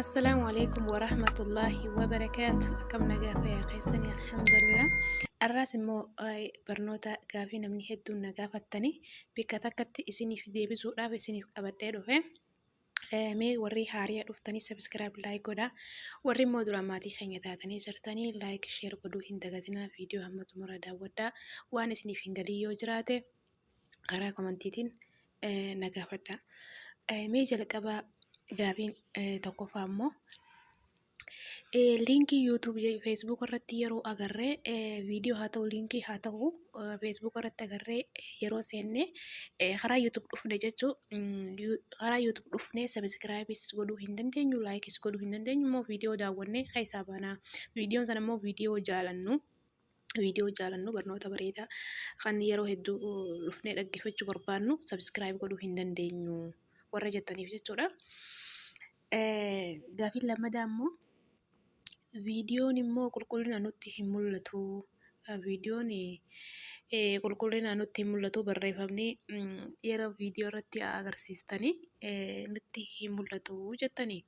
Assalaamu alaikum wa rahmatullaahi wa barakaatu. Akkam nagaa fayyaa keessanii alhamdulillah. Arraas immoo eh, barnoota gaafii namni hedduun na gaafattanii bakka takkatti isiniif deebisuudhaaf isiniif qabadhee dhufe. Eh, Mee warri haariya dhuftanii sabiskiraayib laayik godhaa. Warri immoo duraan maatii keenya taatanii jirtanii laayik sheer godhuu hin dagatinaa viidiyoo hamma xumura daawwadhaa. Waan isiniif hin galin yoo jiraate karaa komantiitiin na gaafadha. Mee jalqaba gaafiin tokkoffaa immoo liinkii YouTube Facebook irratti yeroo agarree viidiyoo haa ta'u liinkii haa ta'u Facebook irratti agarree yeroo seenne karaa YouTube dhufne jechuu karaa YouTube dhufne sabiskiraayibis godhuu hin dandeenyu laayikis godhuu hin dandeenyu immoo viidiyoo daawwannee keessaa baana viidiyoon sana immoo viidiyoo jaalannu. viidiyoo jaalannu barnoota bareedaa kan yeroo hedduu dhufnee dhaggeeffachuu barbaannu sabiskiraayib godhuu hin dandeenyu warra jettaniif jechuudha. Gaafiin lammadaa immoo viidiyoon immoo qulqullina nutti hin mul'atu. Viidiyoon qulqullina nutti hin mul'atu barreeffamni yeroo viidiyoo irratti agarsiistanii nutti hin mul'atu jettanii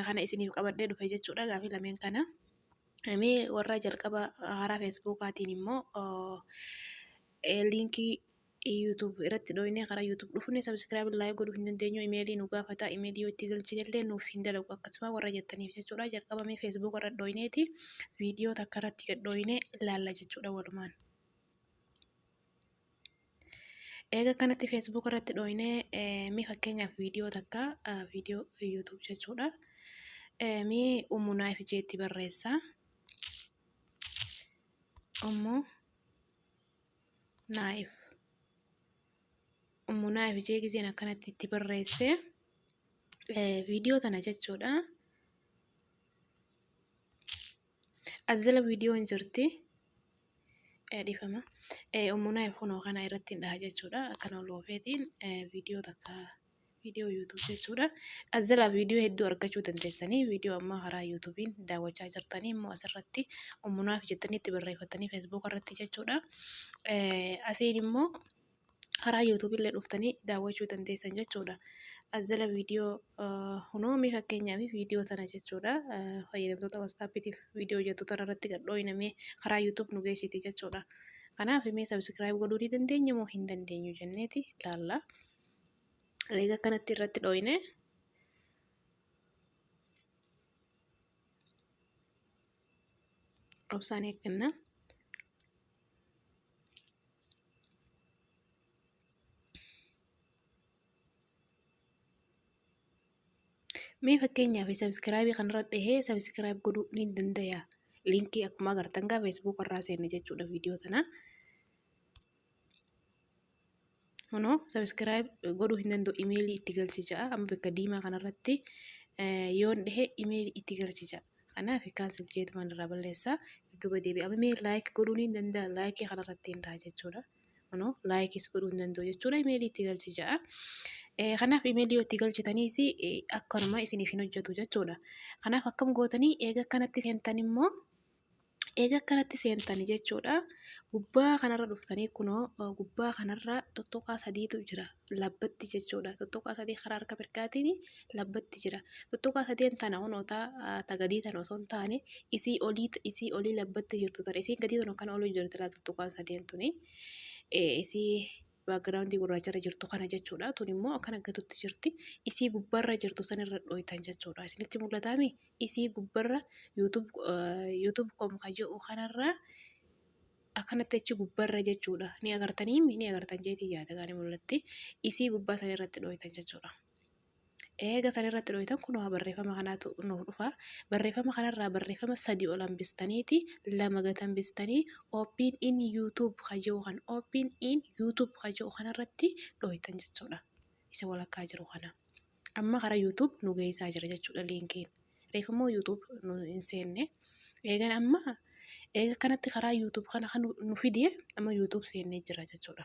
kana isiniif qabadhee dhufe jechuudha gaafii lameen kana. Mee warra jalqaba haaraa Feesbuukaatiin immoo liinkii YouTube irratti dhooyinee karaa YouTube dhufunne sabiskiraayib laayik godhuu hin dandeenyu imeelii nu gaafata imeelii yoo itti galchine illee nuuf hin dalagu akkasuma warra jettaniif jechuudha jalqaba mee Facebook irra dhooyineeti viidiyoo takka irratti dhooyinee ilaalla jechuudha walumaan. Eega akkanatti Facebook irratti dhooyinee mee fakkeenyaaf viidiyoo takka viidiyoo YouTube jechuudha. Mee Ummu Naayif jeetti barreessa. Ummu Naayif. Ummu Naayif jee gizeen akkanatti itti barreesse viidiyoo tana jechuudha. As jala viidiyoo hin jirti. Dhiifama. Ummunaa kunoo kana irratti hin dhaha jechuudha. Akkana ol oofeetiin viidiyoo takka viidiyoo yuutuub jechuudha. As jala viidiyoo hedduu argachuu dandeessanii viidiyoo ammaa karaa yuutuubiin daawwachaa jirtanii immoo asirratti ummunaaf jettanii itti barreeffattanii feesbuuka irratti jechuudha. Asiin immoo karaa YouTube illee dhuftanii daawwachuu dandeessan jechuudha. As jala viidiyoo hunoomi fakkeenyaaf viidiyoo tana jechuudha. Fayyadamtoota WhatsAppitiif viidiyoo hojjettu tana irratti gad dhooyinamee karaa YouTube nu geessiti jechuudha. Kanaaf mee subscribe godhuu ni dandeenya moo hin dandeenyu jenneeti ilaalla. Egaa kanatti irratti dhooyinee obsaan eegganna. Mee fakkeenyaaf sabiskiraabii kanarra dhahee sabiskiraayib godhuu ni dandaya. Liinkii akkuma agartan gaa feesbuuk irraa seenne jechuudha viidiyoo tanaa. Kunoo sabiskiraayib godhuu hin danda'u imeelii itti galchi ja'a amma bakka diimaa kanarratti yoon dhehe imeelii itti galchi ja'a. Kanaaf kaansel jeetumaan irraa balleessa duuba deebi'a. Amma mee laayik godhuu ni danda'a laayikii kanarratti hin dhaha jechuudha. Kunoo laayikis godhuu hin danda'u jechuudha imeelii itti galchi ja'a. Kanaaf imeelii yoo itti galchitaniis akkanuma isiniif hin hojjetu jechuudha. Kanaaf akkam gootanii eega akkanatti seentan immoo Eega akkanatti seentanii jechuudha. Gubbaa kanarra dhuftanii kunoo gubbaa kanarra tuttuqaa sadiitu jira. Labbatti jechuudha. Tuttuqaa sadii karaa harka mirgaatiin labbatti jira. Tuttuqaa sadeen tana kunoo ta gadii tana osoo hin taane isii olii isii olii labbatti jirtu tana isiin gadii tun akkana olii jirti laa tuttuqaan sadeen tuni. Isii background gurraacha irra jirtu kana jechuudha. Tun immoo akkana gatutti jirti. Isii gubbarra jirtu san irra dhooytan jechuudha. Isinitti mul'ataami? Isii gubbarra YouTube YouTube com ka je'u kanarra akkanatti achi gubbarra jechuudha. Ni agartaniimi? Ni agartan jeetii yaada gaanii mul'atti. Isii gubbaa san irratti dhooytan jechuudha. Eega san irratti dhooytan kunoo barreeffama kanaatu nuuf dhufa. Barreeffama kanarraa barreeffama sadii ol hambistaniiti lama gad hambistanii open in YouTube kan jedhu kan open in YouTube kan jedhu kanarratti dhooytan jechuudha. Isa walakkaa jiru kana. Amma karaa YouTube nu geessaa jira jechuudha liinkiin. Reef immoo YouTube nu hin seenne. Eegan amma eega kanatti karaa YouTube kana kan nu fide amma YouTube seennee jira jechuudha.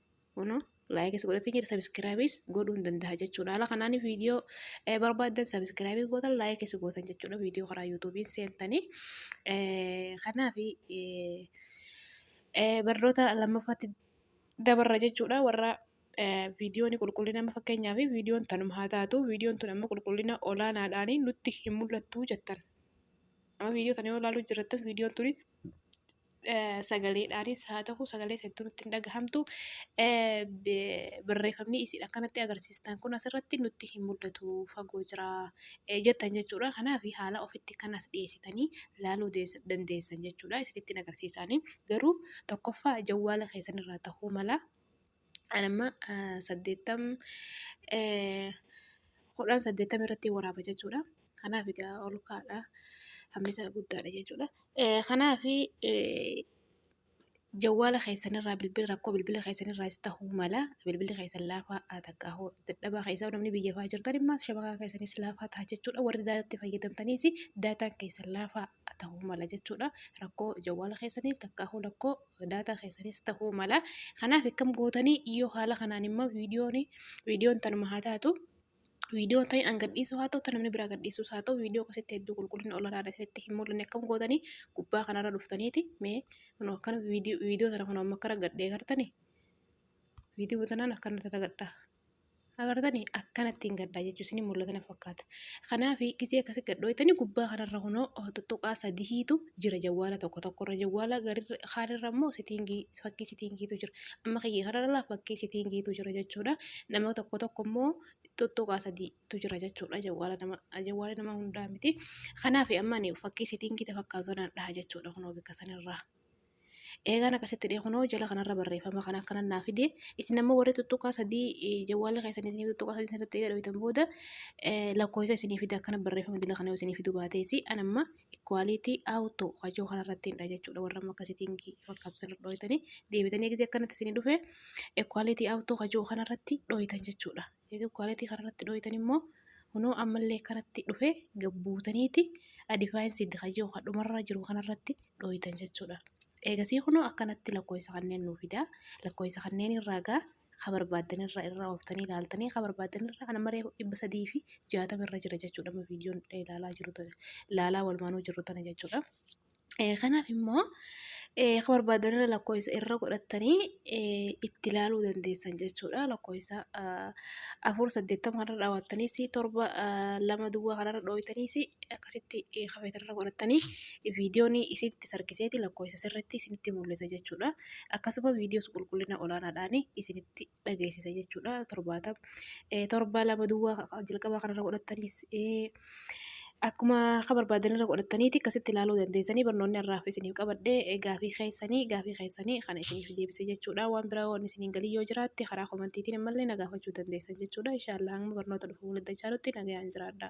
Kuno laayikis godhatee jira sabiskiraayibis godhuu hin danda'a jechuudha. Haala kanaan viidiyoo barbaaddan sabiskiraayibis gootan laayikis gootan jechuudha. Viidiyoo karaa yuutuubiin seentanii kanaaf barnoota lammaffaatti dabarra jechuudha warra viidiyoon qulqullina amma fakkeenyaaf viidiyoon tanuma haa taatu viidiyoon tun amma qulqullina olaanaadhaan nutti hin mul'attu jettan. Amma viidiyoo tana yoo ilaaluu jirattan viidiyoon tuni sagaleedhaanis haa ta'u sagalee hedduu nutti hin dhagahamtu. Barreeffamni isin akkanatti agarsiistan kun asirratti nutti hin mul'atu fagoo jira jettan jechuudha. Kanaaf haala ofitti kan as dhiyeessitanii laaluu dandeessan jechuudha. Isinitti agarsiisaanii garuu tokkoffaa jawwaala keessanirraa ta'uu mala. An amma eh, saddeettam eh, kudhan saddeettam irratti waraaba jechuudha. Kanaaf egaa ol kaadha. Hammi isaa guddaadha jechuudha. Eh, Kanaaf eh, jawwaala keessanirraa bilbila rakkoo bilbila keessanirraa is ta'uu mala bilbilli keessan laafaa haa takka hoo dadhabaa keessaa namni biyya fa'aa jirtan immoo shabakaa keessanis laafaa ta'a jechuudha warri daataatti fayyadamtaniis daataan keessan laafaa haa ta'uu mala jechuudha rakkoo jawwaala keessanii takka hoo rakkoo daataa keessanis ta'uu mala. Kanaaf akkam gootanii yoo haala kanaan immoo viidiyoon viidiyoon tanuma haa taatu viidiyoo ta'in an gadhiisuu haa ta'u namni biraa gadhiisuus haa ta'u viidiyoo akkasitti hedduu qulqullina olaanaadha isinitti hin mul'anne akkam gootanii gubbaa kanarra dhuftaniiti mee kunoo akkana viidiyoo viidiyoo tana kunoo amma akkana gadhee gartanii viidiyoo tanaan akkana tana gadhaa. Agartanii akkanattiin gadhaa jechuun isin mul'ata na fakkaata. Kanaaf gisee akkasi gadhooytanii gubbaa kanarra kunoo tuttuqaa sadihiitu jira jawwaala tokko tokkorra jawwaala kaanirra immoo sitiingii fakkii sitiingiitu jira. Amma kiyya kanarra fakkii sitiingiitu jira jechuudha. Nama tokko tokko immoo tuttuqaa sadiitu jira jechuudha jawwaala nama jawwaala nama hundaa miti. Kanaaf amma fakkii sitiingii fakkaatu kanaan dhaha jechuudha kunoo bakka sanarraa. Eegaan akkasitti dhee kunoo jala kanarra barreeffama kan akkanan naa fide isin ammoo warri tuttuqaa sadii jawwaala keessan isin tuttuqaa sadii irratti eega dhooytan booda lakkoofsa isinii fide akkana barreeffama jala kana isinii fidu baateesi an amma ikwaaliitii awuto kajoo kanarratti hin dha jechuudha warra amma akkasitiin fakkaabsan dhooytanii deebitanii eegzi akkanatti isinii dhufe ikwaaliitii awuto kajoo kanarratti dhooytan jechuudha. Eega quality kana irratti dhooytan immoo kunoo ammallee akkanatti dhufee gabbuutaniiti adifaayin siid ka jiru ka dhumarra jiru kana irratti dhooytan jechuudha. Eegasii kunoo akkanatti lakkoofsa kanneen nuu fidaa lakkoofsa kanneen irraa gaa ka barbaaddan irra irra ooftanii ilaaltanii ka barbaaddan irra ana maree dhibba sadii fi jaatama irra jira jechuudha amma viidiyoon ilaalaa jiru ilaalaa walumaanuu jirru tana jechuudha. Kanaaf immoo akka barbaadan irra lakkoofsa irra godhattanii itti ilaaluu dandeessan jechuudha. Lakkoofsa afur saddeettama irra dhaabbattaniis torba lama duwwaa kanarra dhooytaniis akkasitti kafeetira irra godhattanii viidiyoon isinitti sarkiseeti lakkoofsa sirriitti isinitti mul'isa jechuudha. Akkasuma viidiyoo qulqullina olaanaadhaan isinitti dhageessisa jechuudha torbaatama. Torba lama duwwaa jalqabaa kanarra godhattanis akkuma akka barbaadanirra godhattaniiti akkasitti ilaaluu dandeessanii barnoonni har'aaf isiniif qabadhee gaafii keessanii gaafii keessanii kana isiniif deebise jechuudha waan biraa waan isiniin galii yoo jiraatte karaa komantiitiin ammallee na gaafachuu dandeessan jechuudha inshaallah hanga barnoota dhufu walitti dachaanutti nagayaan jiraadha.